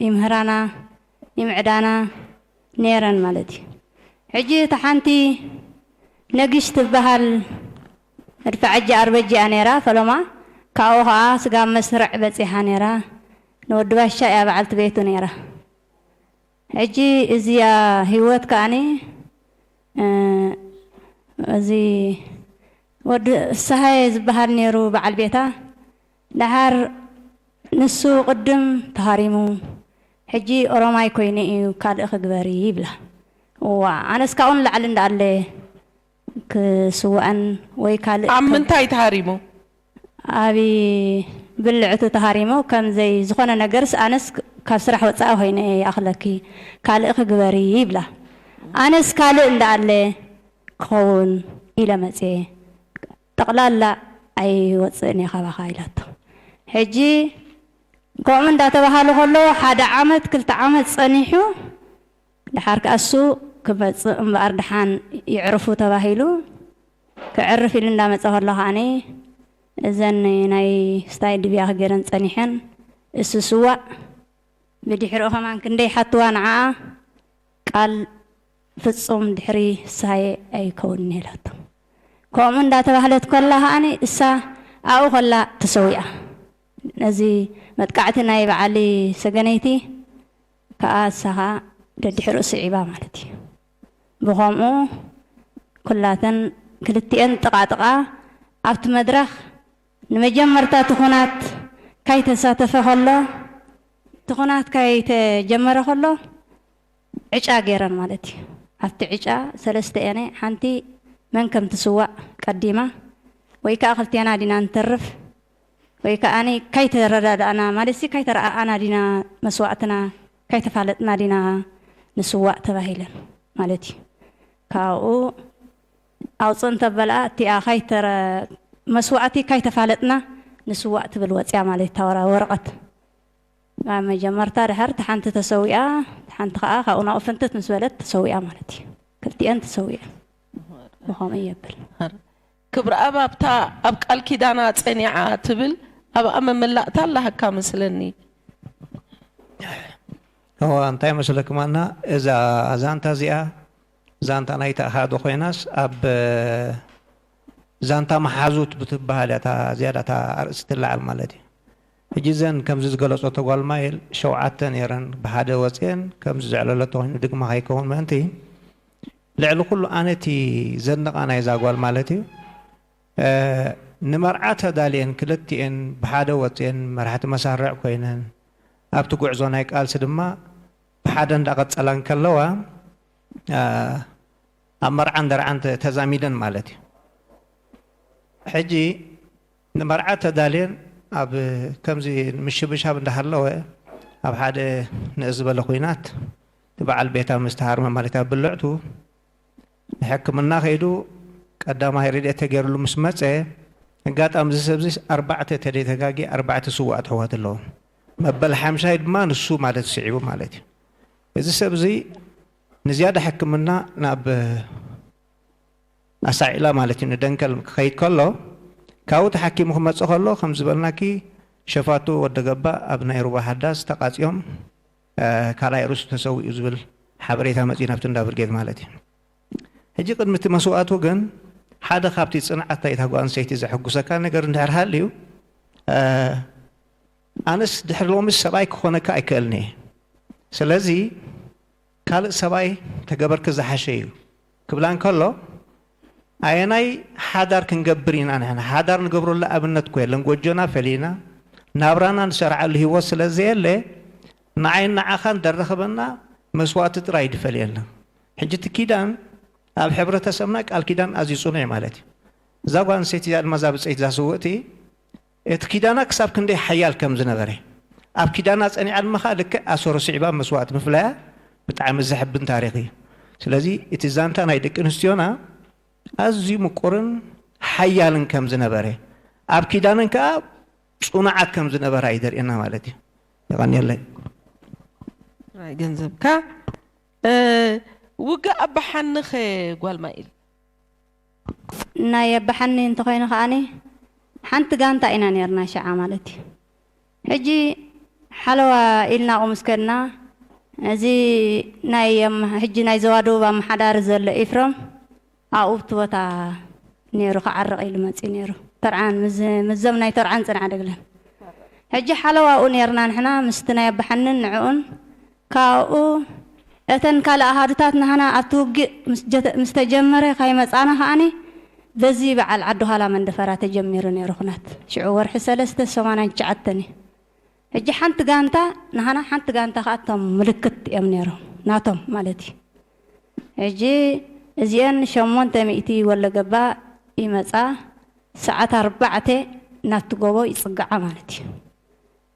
ይምህራና ይምዕዳና ነይረን ማለት እዩ ሕጂ እታ ሓንቲ ነግሽ ትበሃል መድፋዐጂ ኣርበጂ እያ ነይራ ፈለማ ካብኡ ከኣ ስጋብ መስርዕ በጺሓ ነይራ ንወዲ ባሻ እያ በዓልቲ ቤቱ ነይራ ሕጂ እዚኣ ሂወት ከኣኒ እዚ ወዲ ፍስሃየ ዝበሃል ነይሩ በዓል ቤታ ደሓር ንሱ ቅድም ተሃሪሙ ሕጂ ኦሮማይ ኮይኑ ኢዩ ካልእ ክግበሪ ይብላ እዋእ ኣነስ ካብኡ ንላዕሊ እንዳኣለ ክስዋእን ወይ ካልእ ኣብ ከብ ምንታይ ተሃሪሙ? ኣብ ብልዕቱ ተሃሪሙ ከም ዘይ ዝኮነ ነገርስ ኣነስ ካብ ስራሕ ወጻኢ ኮይነ ኢየ ይኣክለኪ ካልእ ክግበሪ ይብላ ኣነስ ካልእ እንዳኣለ ክከውን ኢለ መጽየ ጠቕላላ ኣይወጽእን እየ ካባኻ ኢላቶ። ሕጂ ከምኡ እንዳተባሃሉ ከለዉ ሓደ ዓመት ክልተ ዓመት ጸኒሑ ደሓር ከኣ እሱ ክመጽእ እምበኣር ደሓን ይዕርፉ ተባሂሉ ክዕርፍ ኢሉ እንዳመጸ ከሎ ከኣ እዘን ናይ ስታይ ድብያ ክገረን ጸኒሐን እሱ ስዋእ ብድሕሪኡ ከማን ክንደይ ሓትዋ ንዓኣ ቃል ፍጹም ድሕሪ ሳየ ኣይከውንን ኢላቶ። ከምኡ እንዳ ተባህለት ከላ ከኣ እሳ ኣብኡ ከላ ተሰዊኣ። ነዚ መጥቃዕቲ ናይ በዓል ሰገነይቲ ከኣ እሳ ከኣ ደድሕርኡ ስዒባ ማለት እዩ። ብኸምኡ ኩላተን ክልቲኤን ጥቓ ጥቓ ኣብቲ መድረኽ ንመጀመርታ እቲ ኩናት ካይተሳተፈ ከሎ እቲ ኩናት ካይተጀመረ ከሎ ዕጫ ገይረን ማለት እዩ። ኣብቲ ዕጫ ሰለስተኤነ ሓንቲ መን ከም ትስዋእ ቀዲማ ወይ ከኣ ክልቴና ዲና ንተርፍ ወይ ከኣ ካይተረዳዳእና ማለትሲ ካይተረኣኣና ዲና መስዋእትና ካይተፋለጥና ዲና ንስዋእ ተባሂለን ማለት እዩ። ካብኡ ኣውጽእ እንተበልኣ እቲኣ ካይተረ መስዋእቲ ካይተፋለጥና ንስዋእ ትብል ወጽያ ማለት እታ ወረቐት። ኣብ መጀመርታ ድሓር እታ ሓንቲ ተሰዊኣ እታ ሓንቲ ከኣ ካብኡ ናብኡ ፍንትት ምስ በለት ተሰዊኣ ማለት እዩ። ክልቲኤን ተሰዊኤን ብኸምኡ የብል። ሃር ክብርኣብ ኣብታ ኣብ ቃል ኪዳና ጸኒዓ ትብል ኣብኣ መመላእታ ኣለሃካ መስለኒ። እወ እንታይ መሰለኩም ኣና እዛ ዛንታ እዚኣ ዛንታ ናይቲ ኣሃዱ ኮይናስ ኣብ ዛንታ መሓዙት ብትበሃል እያ ዝያዳ እታ ኣርእስቲ ትለዓል ማለት እዩ። ሕጂ እዘን ከምዚ ዝገለጾ ተጓልማይል ሸውዓተ ነይረን ብሓደ ወጽየን ከምዚ ዘዕለለቶ ኮይኑ ድግማ ከይከውን ምእንቲ ልዕሊ ኩሉ ኣነ እቲ ዘድንቃ ናይዛ ጓል ማለት እዩ ንመርዓ ተዳልየን ክልቲኤን ብሓደ ወጽየን መራሕቲ መሳርዕ ኮይነን ኣብቲ ጉዕዞ ናይ ቃልሲ ድማ ብሓደ እንዳቀጸላ እንከለዋ ኣብ መርዓን ደርዓን ተዛሚደን ማለት እዩ ሕጂ ንመርዓ ተዳልየን ኣብ ከምዚ ምሽብሻብ እንዳሃለወ ኣብ ሓደ ንእስ ዝበለ ኹናት ንበዓል ቤታ ምስ ተሃርመ ማለት ኣብ ብልዕቱ ንሕክምና ከይዱ ቀዳማይ ረድኤት ተገይርሉ ምስ መጸ ኣጋጣሚ እዚ ሰብዚ ኣርባዕተ ተደይ ተጋግየ ኣርባዕተ ስውኣት ኣሕዋት ኣለዎ መበል ሓምሻይ ድማ ንሱ ማለት ስዒቡ ማለት እዩ እዚ ሰብዚ ንዝያዳ ሕክምና ናብ ኣሳዒላ ማለት እዩ ንደንከል ክኸይድ ከሎ ካብኡ ተሓኪሙ ክመጽእ ከሎ ከም ዝበልናኪ ሸፋቱ ወዲ ገባ ኣብ ናይ ሩባ ሃዳስ ተቃጽዮም ካልኣይ ርእሱ ተሰዊኡ ዝብል ሓበሬታ መጽዩ ናብቲ እንዳ ብርጌድ ማለት እዩ ሕጂ ቅድሚ እቲ መስዋእቱ ግን ሓደ ካብቲ ጽንዓት ናይታ ጓል ኣንስተይቲ ዘሐጉሰካ ነገር እንድሕር ሃልዩ ኣነስ ድሕሪ ሎምስ ሰብኣይ ክኾነካ ኣይክእልን እየ ስለዚ ካልእ ሰብኣይ ተገበርኪ ዝሓሸ እዩ ክብላ እንከሎ ኣየናይ ሓዳር ክንገብር ኢና ንሕና ሓዳር ንገብረሉ ኣብነት እኮ የለን ጎጆና ፈሊና ናብራና ንሰርዓሉ ሂወት ስለ ዘየለ ንዓይን ንዓኻን ደረኽበና መስዋእቲ ጥራይ ድፈልየልና ሕጂ እቲ ኪዳን ኣብ ሕብረተሰብና ቃል ኪዳን ኣዝዩ ጽኑዕ ማለት እዩ እዛ ጓል ኣንስተይቲ እዚኣ ድማ እዛ ብጸይቲ እዛ ስውእቲ እቲ ኪዳና ክሳብ ክንደይ ሓያል ከም ዝነበረ፣ ኣብ ኪዳና ጸኒዓ ድማ ከኣ ልክዕ ኣሰሩ ስዒባ መስዋእቲ ምፍላያ ብጣዕሚ ዘሕብን ታሪኽ እዩ። ስለዚ እቲ ዛንታ ናይ ደቂ ኣንስትዮና ኣዝዩ ምቁርን ሓያልን ከም ዝነበረ፣ ኣብ ኪዳነን ከኣ ጽኑዓት ከም ዝነበራ እዩ ዘርእየና ማለት እዩ። የቐንየለይ። ጥራይ ገንዘብካ ውግእ ኣባሓንኸ ጓል ማይል። ናይ ኣባሓኒ እንተኾይኑ ከኣ ሓንቲ ጋንታ ኢና ኔርና ሽዓ ማለት እዩ ሕጂ ሓለዋ ኢልና ኣብኡ ምስ ከድና እዚ ናይ ሕጂ ናይ ዞባ ደቡብ ኣማሓዳሪ ዘሎ ኢፍረም ኣብኡ ኣብቲ ቦታ ኔሩ ክዓርቕ ኢሉ መጺኡ ኔሩ ተርዓን ምስዞም ናይ ተርዓን ጽንዓደግለን ሕጂ ሓለዋ ኣብኡ ኔርና ንሕና ምስቲ ናይ ኣባሓንን ንዕኡን ካብኡ እተን ካልእ ኣሃዱታት ናህና ኣብቲ ውግእ ምስ ተጀመረ ካይመጻና ከኣ በዚ በዓል ዓዲ ኋላ መንደፈራ ተጀሚሩ ነይሩ ኩናት ሽዑ ወርሒ ሰለስተ ሰማንያን ትሽዓተን እዩ ሕጂ ሓንቲ ጋንታ ናህና ሓንቲ ጋንታ ከኣ እቶም ምልክት እዮም ነይሮም ናቶም ማለት እዩ ሕጂ እዚኤን ሸሞንተ ሚእቲ ወሎገባ ይመጻ ሰዓት ኣርባዕተ ናብቲ ጎቦ ይጽግዓ ማለት እዩ።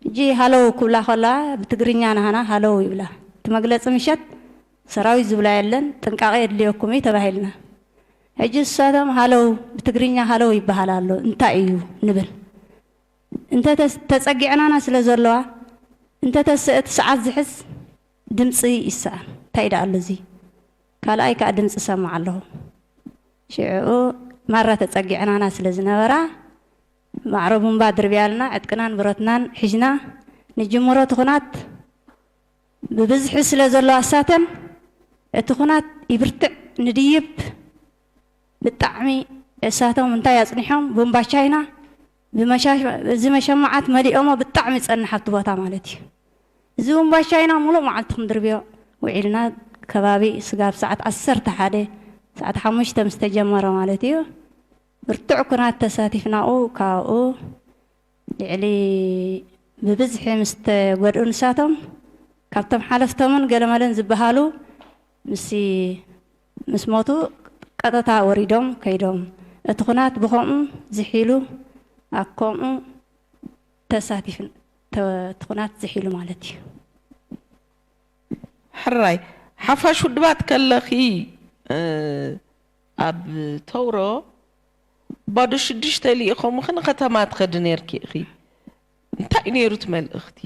ሕጂ ሃሎው ክብላ ከለዋ ብትግርኛ ናሃና ሃሎው ይብላ እቲ መግለጺ ምሸት ሰራዊት ዝብላ የለን ጥንቃቀ የድልየኩም እዩ ተባሂልና ሕጂ ንሳቶም ሃሎው ብትግርኛ ሃሎው ይበሃል ኣሎ እንታይ እዩ ንብል እንተ ተጸጊዕናና ስለ ዘለዋ እንተ እቲ ሰዓት ዝሕዝ ድምጺ ይሰኣን እንታይ ደኣ ኣሎ እዚ ካልኣይ ከኣ ድምጺ እሰምዕ ኣለኹ ሽዕኡ ማራ ተጸጊዕናና ስለ ዝነበራ ማዕረ ቡምባ ድርብያልና ዕጥቅናን ብረትናን ሒዥና ንጅምሮ እቲ ኩናት ብብዝሒ ስለ ዘሎ ኣሳተን እቲ ኩናት ይብርትዕ ንድይብ ብጣዕሚ እሳቶም እንታይ ኣጽኒሖም ቡምባ ቻይና እዚ መሸማዓት መሊኦሞ ብጣዕሚ ጸንሕ ኣብቲ ቦታ ማለት እዩ እዚ ቡምባ ቻይና ሙሉእ መዓልቲ ክንድርብዮ ውዒልና ከባቢ ስጋብ ሰዓት ዓሰርተ ሓደ ሰዓት ሓሙሽተ ምስ ተጀመረ ማለት እዩ ብርቱዕ ኩናት ተሳቲፍናኡ ካብኡ ልዕሊ ብብዝሒ ምስ ተጎድኡ ንሳቶም ካብቶም ሓለፍቶምን ገለመለን ዝበሃሉ ምስ ምስ ሞቱ ቀጠታ ወሪዶም ከይዶም እቲ ኩናት ብኸምኡ ዝሒሉ ኣብ ከምኡ ተሳቲፍ ተ እቲ ኩናት ዝሒሉ ማለት እዩ። ሕራይ ሓፋሽ ውድባት ከለኺ እ። ኣብ ተውሮ ባዶ ሽዱሽተ ልኢኾምኺ ንኸተማ ትኸዲ ኔርኪ ኢኺ። እንታይ እዩ ኔሩ እቲ መልእኽቲ?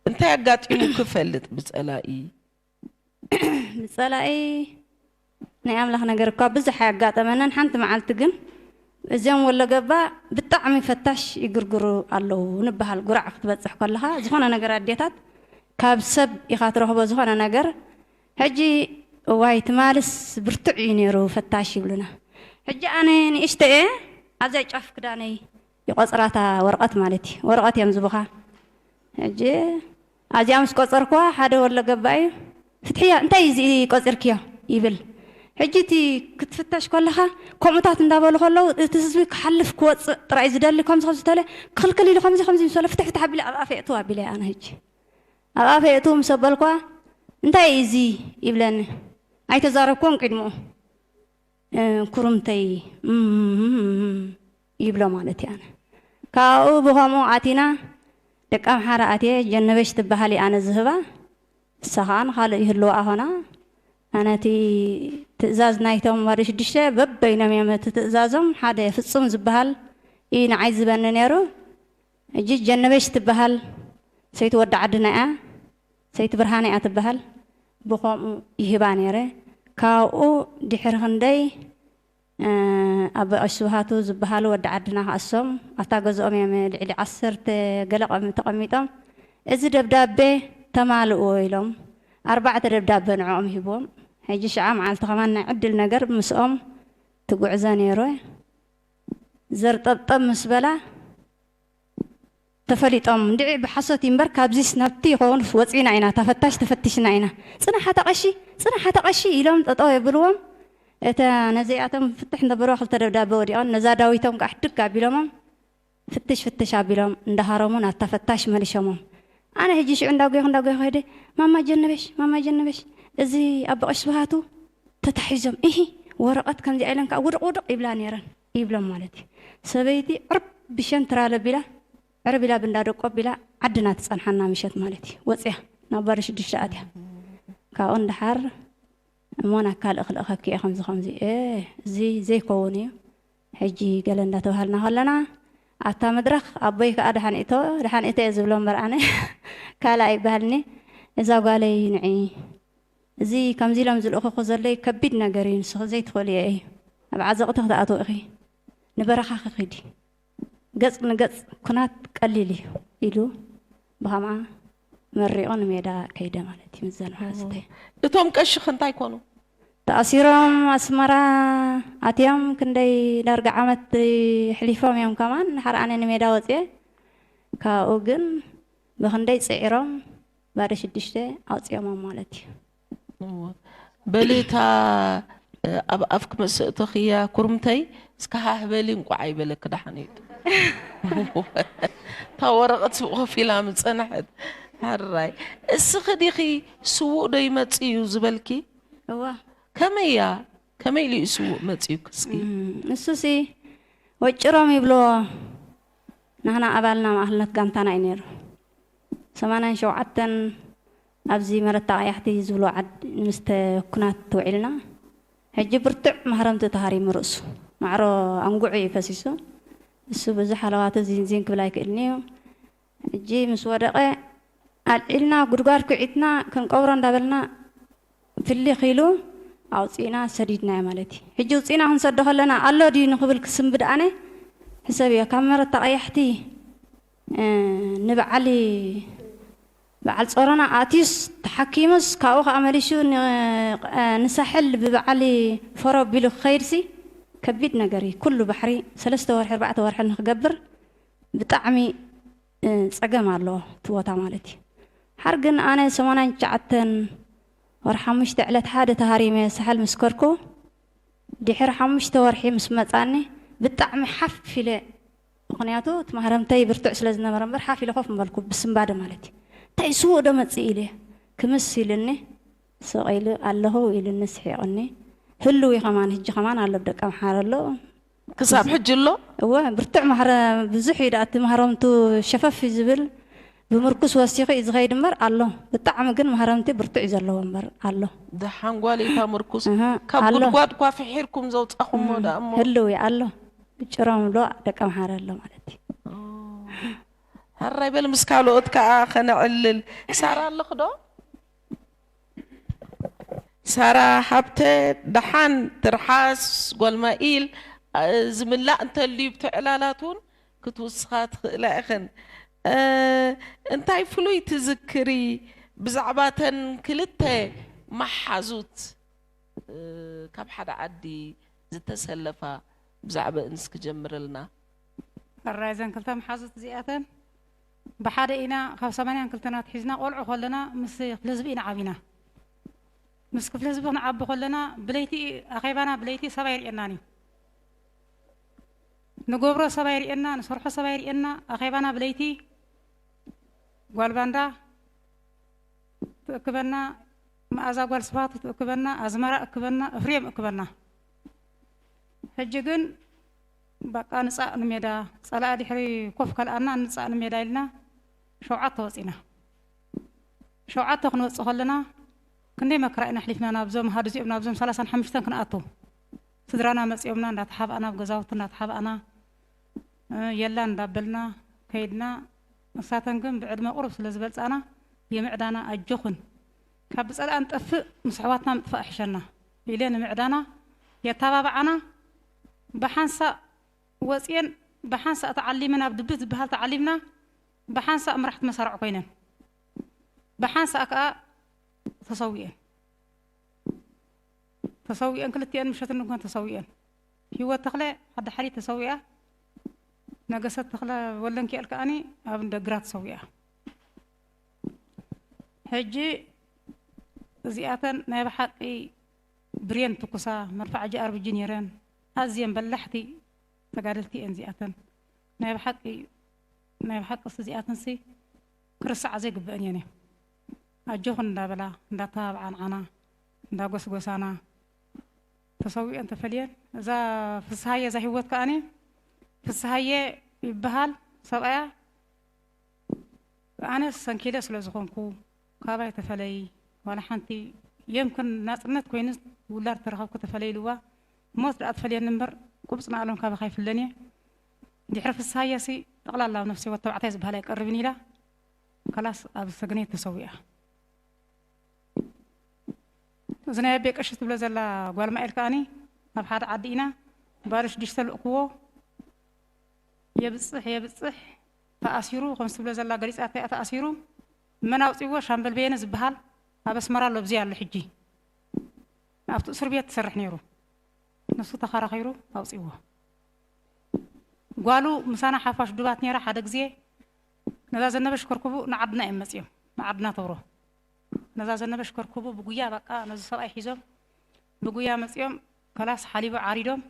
እንታይ ኣጋጢሙኪ ይፈልጥ ብጸላኢ? ብጸላኢ ናይ ኣምላኽ ነገር እኳ ብዙሕ ኣያጋጠመንን፣ ሓንቲ መዓልቲ ግን እዞም ወሎገባ ብጣዕሚ ፈታሽ ይግርግሩ ኣለዉ ንበሃል። ጉራዕ ክትበጽሕ ከለኻ ዝኾነ ነገር ኣዴታት ካብ ሰብ ኢኻ ትረኽቦ ዝኾነ ነገር፣ ሕጂ እዋይ ትማልስ ብርቱዕ እዩ ኔሩ ፈታሽ ይብሉና ሕጂ ኣነ ንእሽተይ እየ ኣብዚኣ ጫፍ ክዳነይ ይቆጽራ እታ ወርቀት ማለት እዩ ወረቀት እዮም ዝቡካ ሕጂ ኣብዚኣ ምስ ቆጸርኩዋ ሓደ ወሎ ገባ እዩ ፍትሕያ እንታይ እዩ እዚ ቆጺርክዮ ይብል ሕጂ እቲ ክትፍተሽ ከለካ ከምኡታት እንዳበሉ ከለው እቲ ህዝቢ ክሓልፍ ክወጽእ ጥራይ ዝደሊ ከምዚ ከምዚ ተለ ክክልክል ኢሉ ከምዚ ከምዚ ምስ በለ ፍትሕ ፍትሕ ኣቢለ ኣብ ኣፍ የእትዋ ኣቢለያ ኣነ ሕጂ ኣብ ኣፈይ ኣእትዉ ምስ ኣበልኩዋ እንታይ እዩ እዚ ይብለኒ ኣይተዛረብኩዎን ቅድምኡ ኩርምተይ እም ይብሎ ማለት እዩ ኣነ ካብኡ ብኸምኡ ኣቲና ደቂ ኣምሓራ ኣትየ ጀነበሽ ትበሃል ኣነ ዝህባ እሳ ከዓ ንካልእ ይህልዋ ኣኾና ኣነ እቲ ትእዛዝ ናይቶም ዋርዲ ሽዱሽተ በበይኖም እዮም እቲ ትእዛዞም ሓደ ፍፁም ዝበሃል እዩ ንዓይ ዝበኒ ነይሩ ሕጂ ጀነበሽ ትበሃል ሰይቲ ወዲ ዓድና እያ ሰይቲ ብርሃነ እያ ትበሃል ብከምኡ ይህባ ነይረ ካብኡ ድሕሪ ክንደይ ኣቦይ ቀሺ ስብሃቱ ዝበሃሉ ወዲ ዓድና ክኣሶም ኣብታ ገዝኦም እዮም ልዕሊ ዓሰርተ ገለ ቆሚ ተቀሚጦም እዚ ደብዳቤ ተማልእዎ ኢሎም ኣርባዕተ ደብዳቤ ንዕኦም ሂብዎም ሕጂ ሽዓ መዓልቲ ከማን ናይ ዕድል ነገር ምስኦም ትጉዕዘ ነይረ ዘርጠብጠብ ምስ በላ ተፈሊጦም እንድዒ ብሓሶት እዩ እምበር ካብዚስ ናብቲ ይኸውን ወጺእና ኢና እታ ፈታሽ ተፈቲሽና ኢና ጽናሕ ኣታ ቀሺ ጽናሕ ኣታ ቀሺ ኢሎም ጠጠው የብልዎም እታ ነዚኣቶም ፍትሕ እንተበልዋ ክልተ ደብዳበ ወዲቐን ነዛ ዳዊቶም ከኣ ሕድግ ኣቢሎሞም ፍትሽ ፍትሽ ኣቢሎም እንዳ ሃረሙ ናብታ ፈታሽ መሊሸሞም። ኣነ ሕጂ ሽዑ እንዳ ጎየኹ እንዳ ጎየኹ ከይደ ማማ ጀነበሽ ማማ ጀነበሽ እዚ ኣቦ ቀሺ ስብሃቱ ተታሒዞም እሂ ወረቐት ከምዚኣ ኢለን ከኣ ውድቕ ውድቕ ይብላ ነይረን ይብሎም ማለት እዩ። ሰበይቲ ዕርብ ብሸን ትራል ኣቢላ ዕርብ ኢላ ብእንዳ ደቁ ኣቢላ ዓድና ትጸንሓና ምሸት ማለት እዩ። ወጺኣ ናብ ባዶ ሽዱሽተ ኣትያ ካብኡ ንደሓር እሞ ናብ ካልእ ክልእኸኪ እየ ከምዚ ከምዚ እየ እዚ ዘይከውን እዩ። ሕጂ ገለ እንዳተባሃልና ከለና ኣብታ መድረኽ ኣቦይ ከኣ ደሓን እቶ ደሓን እቶ እየ ዝብሎ እምበር ኣነ ካልእ ኣይበሃልን'የ እዛ ጓለይ ንዒ እዚ ከምዚ ኢሎም ዝልእኹኺ ዘለይ ከቢድ ነገር እዩ ንስኺ ዘይትኽእልዮ እዩ ኣብ ዓዘቕቲ ክትኣትዊ ኢኺ ንበረኻኺ ኪዲ ገጽ ንገጽ ኩናት ቀሊል እዩ ኢሉ ብኸምኣ መሪቑ ንሜዳ ከይደ ማለት እዩ ምዘን ሓስተ። እቶም ቀሺ ከ እንታይ ኮኑ? ተኣሲሮም ኣስመራ ኣትዮም ክንደይ ዳርጋ ዓመት የሕሊፎም እዮም ከማን ድሓር ኣነ ንሜዳ ወጽየ ካብኡ ግን ብክንደይ ጽዒሮም ባዶ ሽዱሽተ ኣውጺኦሞም ማለት እዩ። በሊ እታ ኣብ ኣፍኪ ምስ እእተኽያ ኩርምተይ እስከ ሃህ በሊ እንቋዕ ኣይበለኪ ደሓን እዩ እታ ወረቐት ስብ ኮፍ ኢላ ምስ ጸንሐት ሕራይ እስኺ ዲኺ ስዉእ ዶ ይመጽእ እዩ ዝበልኪ እወ ከመይ እያ ከመይ ኢሉ እዩ ስዉእ መጽዩኪ እስኪ እም፣ ንሱሲ ወጭሮም ይብልዎ ናህና ኣባልና ማእክልነት ጋንታና እዩ ነይሩ ሰማንያን ሸውዓተን ኣብዚ መረታ ቀያሕቲ ዝብልዎ ዓድ ምስ ኩናት ውዒልና ሕጂ ብርቱዕ ማህረምቲ ተሃሪሙ ርእሱ ማዕሮ ኣንጉዑ እዩ ፈሲሱ እሱ በዚ ሓለዋቱ ዚን ዚን ክብል ኣይክእልን እዩ ሕጂ ምስ ወደቀ ኣልዒልና ጉድጓድ ኩዒትና ክንቀብሮ እንዳበልና ፍሊኽ ኢሉ ኣውጺእና ሰዲድናዮ ማለት እዩ ሕጂ ውጺእና ክንሰዶ ከለና ኣሎ ድዩ ንክብል ክስንብድ ኣነ ሕሰብዮ ካብ መረታ ቀያሕቲ ንበዓል በዓል ጾሮና ኣእትዩስ ተሓኪሙስ ካብኡ ከኣ መሊሹ ንሳሕል ብበዓል ፎሮ ኣቢሉ ክኸይድሲ ከቢድ ነገር እዩ ኩሉ ባሕሪ ሰለስተ ወርሒ ኣርባዕተ ወርሒ ንክገብር ብጣዕሚ ጸገም ኣለዎ እቲ ቦታ ማለት እዩ ሓር ግን ኣነ ሰማንያን ትሽዓተን ወርሒ ሓሙሽተ ዕለት ሓደ ተሃሪመ ሳሕል ምስ ከድኩ ድሕሪ ሓሙሽተ ወርሒ ምስ መጻኒ ብጣዕሚ ሓፍ ኢለ ምኽንያቱ እቲ ማህረምተይ ብርቱዕ ስለ ዝነበረ እምበር ሓፍ ኢለ ኮፍ ምበልኩ፣ ብስንባደ ማለት እዩ። እንታይ እዩ ስዉእ'ዶ መጺኡ ኢለ ክምስ ኢሉኒ ስቕ ኢሉ ኣለኹ ኢሉኒ ስሒቑኒ። ህሉው እዩ ከማን ህጂ ከማን ኣሎ ብደቀምሓረ ኣሎ። ክሳብ ሕጂ ኣሎ? እወ ብርቱዕ ማህረ ብዙሕ እዩ ደኣ እቲ ማህረምቱ ሸፈፍ እዩ ዝብል። ብምርኩስ ወሲኹ እዩ ዝኸይድ እምበር ኣሎ ብጣዕሚ ግን ማህረምቲ ብርቱዕ እዩ ዘለዎ እምበር ኣሎ። ደሓን ጓለይ እታ ምርኩስ እህ ካብ ኣሎ ጉድጓድ እኳ ፍሒርኩም ዘውጻኹሞ እህ ደኣ እሞ። ህልው እዩ ኣሎ ጭሮም ዶ ደቂ ኣምሓረ ኣሎ ማለት እዩ። ኦህ ሕራይ በል ምስ ካልኦት ከኣ ከነዕልል። ሳራ ኣለኺ ዶ? ሳራ ሃብተ ደሓን ትርሓስ ጓል ማይኢል። ዝምላእ እንተልዩ ብቲ ዕላላት እውን ክትውስኻ ትኽእላ ኢኽን። እንታይ ፍሉይ ትዝክሪ ብዛዕባ እተን ክልተ መሓዙት ካብ ሓደ ዓዲ ዝተሰለፋ ብዛዕበእን እስኪ ጀምርልና። ሕራይ እዘን ክልተ መሓዙት እዚኣተን ብሓደ ኢና ካብ ሰማንያን ክልተን ኣትሒዝና ቆልዑ ከለና ምስ ክፍሊ ህዝቢ ኢና ዓቢና። ምስ ክፍሊ ህዝቢ ክንዓቢ ከለና ብለይቲ ኣኼባና ብለይቲ ሰብ ኣይርእየናን እዩ። ንገብሮ ሰብ ኣይርእየና ንሰርሖ ሰብ ኣይርእየና ኣኼባና ብለይቲ ጓል ባንዳ ትእክበና መኣዛ ጓል ስብሃቱ ትእክበና ኣዝመራ እክበና እፍሬም እክበና ሕጂ ግን በቃ ንፃእ ንሜዳ ፀላኢ ድሕሪ ኮፍ ከልኣና ንፃእ ንሜዳ ኢልና ሸውዓተ ወፂና ሸውዓተ ክንወፅእ ከለና ክንደይ መከራ ኢና ኣሕሊፍና ናብዞም ሃዱ እዚኦም ናብዞም ሰላሳን ሓሙሽተን ክንኣቱ ስድራና መፅዮምና እንዳተሓባእና ኣብ ገዛውቲ እንዳተሓባእና የላን እንዳበልና ከይድና ንሳተን ግን ብዕድመ ቁሩብ ስለ ዝበልፃና የምዕዳና ኣጆኽን ካብ ብፀላእ ንጠፍእ ምስ ኣሕዋትና ምጥፋእ ይሕሸና ኢለን ንምዕዳና የታባብዓና ብሓንሳእ ወፅየን ብሓንሳእ ተዓሊመን ኣብ ድብት ዝበሃል ተዓሊምና ብሓንሳእ መራሕቲ መሳርዕ ኮይነን ብሓንሳእ ከዓ ተሰዊኤን ተሰዊኤን ክልቲኤን ምሸት እንኳን ተሰዊኤን ሂወት ተኽለ ኣብ ዳሓሊት ተሰዊኣ ነገሰት ተኽለ ወለንኪኤል ከኣኒ ኣብ እንደ ግራት ተሰዊኣ ሕጂ እዚኣተን ናይ ብሓቂ ብሬን ትኩሳ መርፋዕ ጃኣርብጂ ነይረን ኣዝየን በላሕቲ ተጋደልቲ እየን እዚኣተን ናይ ብሓቂ ናይ ብሓቂ እዚኣተንሲ ክርሳዓ ዘይግበአን እየን እየን ኣጆኹን እንዳበላ እንዳተባብዓ ንዓና እንዳጎስጎሳና ተሰዊኤን ተፈልየን እዛ ፍስሃየ እዛ ሂወት ከኣ ፍስሃየ ይብሃል ሰብኣያ ኣነ ሰንኪለ ስለ ዝኾንኩ ካባይ ተፈለይ ዋላ ሓንቲ የምክን ናጽነት ኮይኑ ውላድ ተረኸብኩ ተፈለይ ኢልዋ ሞት ደኣ ትፈልየኒ እምበር ቁብጽ ንኣሎም ካባኻ ይፍለን እየ ድሕሪ ፍስሃየ ሲ ጠቕላላ ኣብ ነፍሲ ወተባዕታይ ዝበሃል ኣይቀርብን ኢላ ከላስ ኣብ ሰግነይ ተሰዊኣ እዚ ናይ ኣቤ ቀሺ ትብሎ ዘላ ጓል ማኤል ከኣኒ ኣብ ሓደ ዓዲ ኢና ባርሽ ዲሽ ተልእክዎ የብጽሕ የብጽሕ ተኣሲሩ ከምዚ ትብሎ ዘላ ገሊጻቶ እያ ተኣሲሩ መን ኣውጺዎ ሻምበል በየነ ዝብሃል ኣብ ኣስመራ ኣሎ ብዘይ ኣሎ ሕጂ ኣብቲ እስር ቤት ትሰርሕ ነይሩ ንሱ ተኸራኺሩ ኣውጺዎ ጓሉ ምሳና ሓፋሽ ዱባት ነይራ ሓደ ግዜ ነዛ ዘነበሽ ከርክቡ ንዓድና እዮም መጽዮም ንዓድና ተብሮ ነዛ ዘነበ ሽከርኩቡ ብጉያ ባቃ ነዚ ሰብኣይ ሒዞም ብጉያ መጺኦም ከላስ ሓሊቦ ዓሪዶም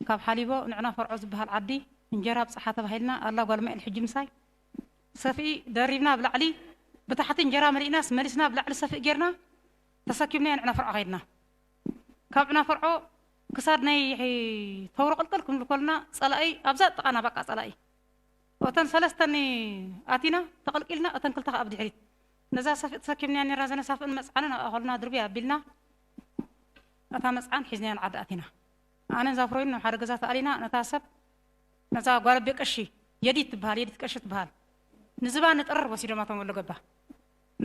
ካብ ሓሊቦ ንዕና ፈርዖ ዝብሃል ዓዲ እንጀራ ኣብጽሓ ተባሂልና ኣላ ጓል ማኤል ሕጂ ምሳይ ሰፍኢ ደሪብና ኣብ ላዕሊ ብታሕቲ እንጀራ መሊእናስ መሊስና ኣብ ላዕሊ ሰፍኢ ጌርና ተሰኪምናዮ ንዕና ፈርዖ ከይድና ካብ ዕና ፈርዖ ክሳድ ናይ ተውሮ ቅልቅል ክንብል ኮልና ጸላኢ ኣብዛ ጥቃና ባቃ ጸላኢ እተን ሰለስተ ን ኣቲና ተቐልቂልና እተን ክልተ ከኣ ብድሕሪት ነዛ ሰፍኢ ተሰኪምንያ ኔርና ዘነሳፍእን መጽዓንን ኣብ ኣኸሉና ድርብይ ኣቢልና ነታ መጽዓን ሒዝናያ ን ዓዲ ኣቲና ኣነን ዛፍሮይን ናብ ሓደ ገዛ ተኣሊና ነታ ሰብ ነዛ ጓል ኣቤ ቀሺ የዲት ትብሃል የዲት ቀሺ ትብሃል ንዝባ ንጠረር ወሲዶማ እቶም ወሎ ገባ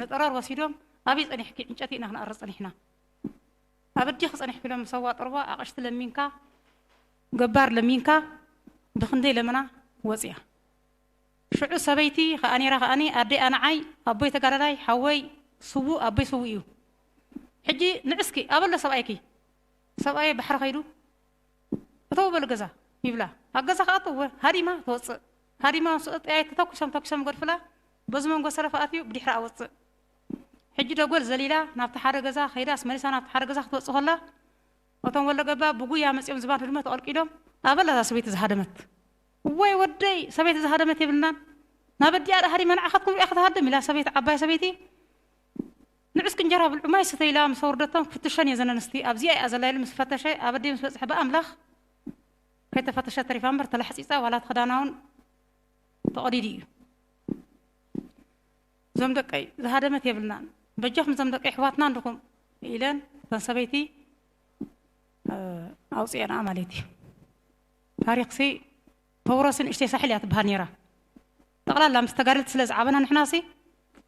ንጠረር ወሲዶም ኣብይ ጸኒሕኪ ዕንጨቲ ኢና ክንኣርር ጸኒሕና ኣብ ኣዲኺ ጸኒሕኪ ኢሎም ሰዋ ጠርቧ ኣቐሽቲ ለሚንካ ገባር ለሚንካ ብክንደይ ለመና ወጽያ ሽዑ ሰበይቲ ከኣ ነይራ ከኣ ኣደይ ኣነዓይ ኣቦይ ተጋዳላይ ሓወይ ስዉእ ኣቦይ ስዉእ እዩ ሕጂ ንዕስኪ ኣበሎ ሰብኣይኪ ሰብኣየይ ባሕሪ ከይዱ እተዉ በሉ ገዛ ይብላ ኣብ ገዛ ክኣቱ እወ ሃዲማ ትወጽእ ሃዲማ ምስ ወጸት ጠያይት ተተኩሶም ተኪሶም ይገድፍላ በዚ መንጎ ሰለፍ ኣትዩ ብድሕራ ኣወጽእ ሕጂ ደጎል ዘሊላ ናብቲ ሓደ ገዛ ከይዳስ መሊሳ ናብቲ ሓደ ገዛ ክትወጽእ ከላ እቶም ወሎ ገባ ብጉያ መጽዮም ዝባን ህድሞ ተቐልቂሎም ኣበላ እዛ ሰበይቲ ዝሃደመት እዋይ ወደይ ሰበይቲ ዝሃደመት የብልናን ናብ ኣዲኣ ደኣ ሃዲማ ንዓኻ ትኩም ሪኣ ክትሃድም ኢላ ሰበይቲ ዓባይ ሰበይቲ ንዑስኪ እንጀራ ብልዑ ማይ ስተዩ ኢላ ምስ ኣውርደቶም ክፍትሸን እየ እዘን ኣንስቲ ኣብዚኣ እያ ዘላ ኢሉ ምስ ፈተሸ ኣብ ኣዲኡ ምስ በጽሐ ብኣምላኽ ከይተፈተሸት ተሪፋ እምበር ተላሕጺጻ ዋላ እቲ ክዳና እውን ተቐዲዱ እዩ እዞም ደቀይ ዝሃደመት የብልናን በጃኹም እዞም ደቂ ኣሕዋትና እንድኹም ኢለን እተን ሰበይቲ ኣውፅኤንኣ ማለት እዩ ታሪኽሲ ተውረሲ ንእሽተይ ሳሕል እያ ትበሃል ነይራ ጠቕላላ ምስ ተጋደልቲ ስለ ዝዓበና ንሕናሲ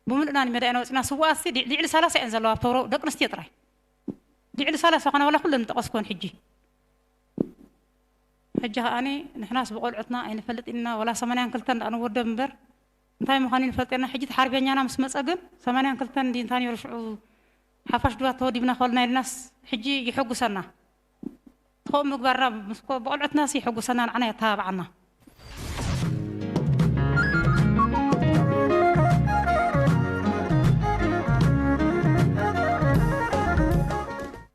ብምሉእና ንሜዳ ኢና ወፂና ስዋኣትሲ ልዕሊ ሰላሳ እየን ዘለዋ ኣብ ተውሮ ደቂ ኣንስትዮ ጥራይ ልዕሊ ሰላሳ ኮነ ዋላ ኩለን ዝጠቐስኩወን ሕጂ ሕጂ ከዓኒ ንሕናስ ብቆልዑትና ኣይንፈልጥ ኢና ወላ ሰማንያን ክልተን ንወደብ እምበር እንታይ ምዃኑ ንፈልጥ ኢና ሕጂ እቲ ሓርበኛና ምስ መጸ ግን ሰማንያን ክልተን እንድዩ እንታ ኔሩ ሽዑ ሓፋሽ ድባት ተወዲብና ኮልና ኢልናስ ሕጂ የሐጉሰና እቲ ከምኡ ምግባርና ምስ ኮ ብቆልዑትናሲ የሐጉሰና ንዓና የተባብዓና።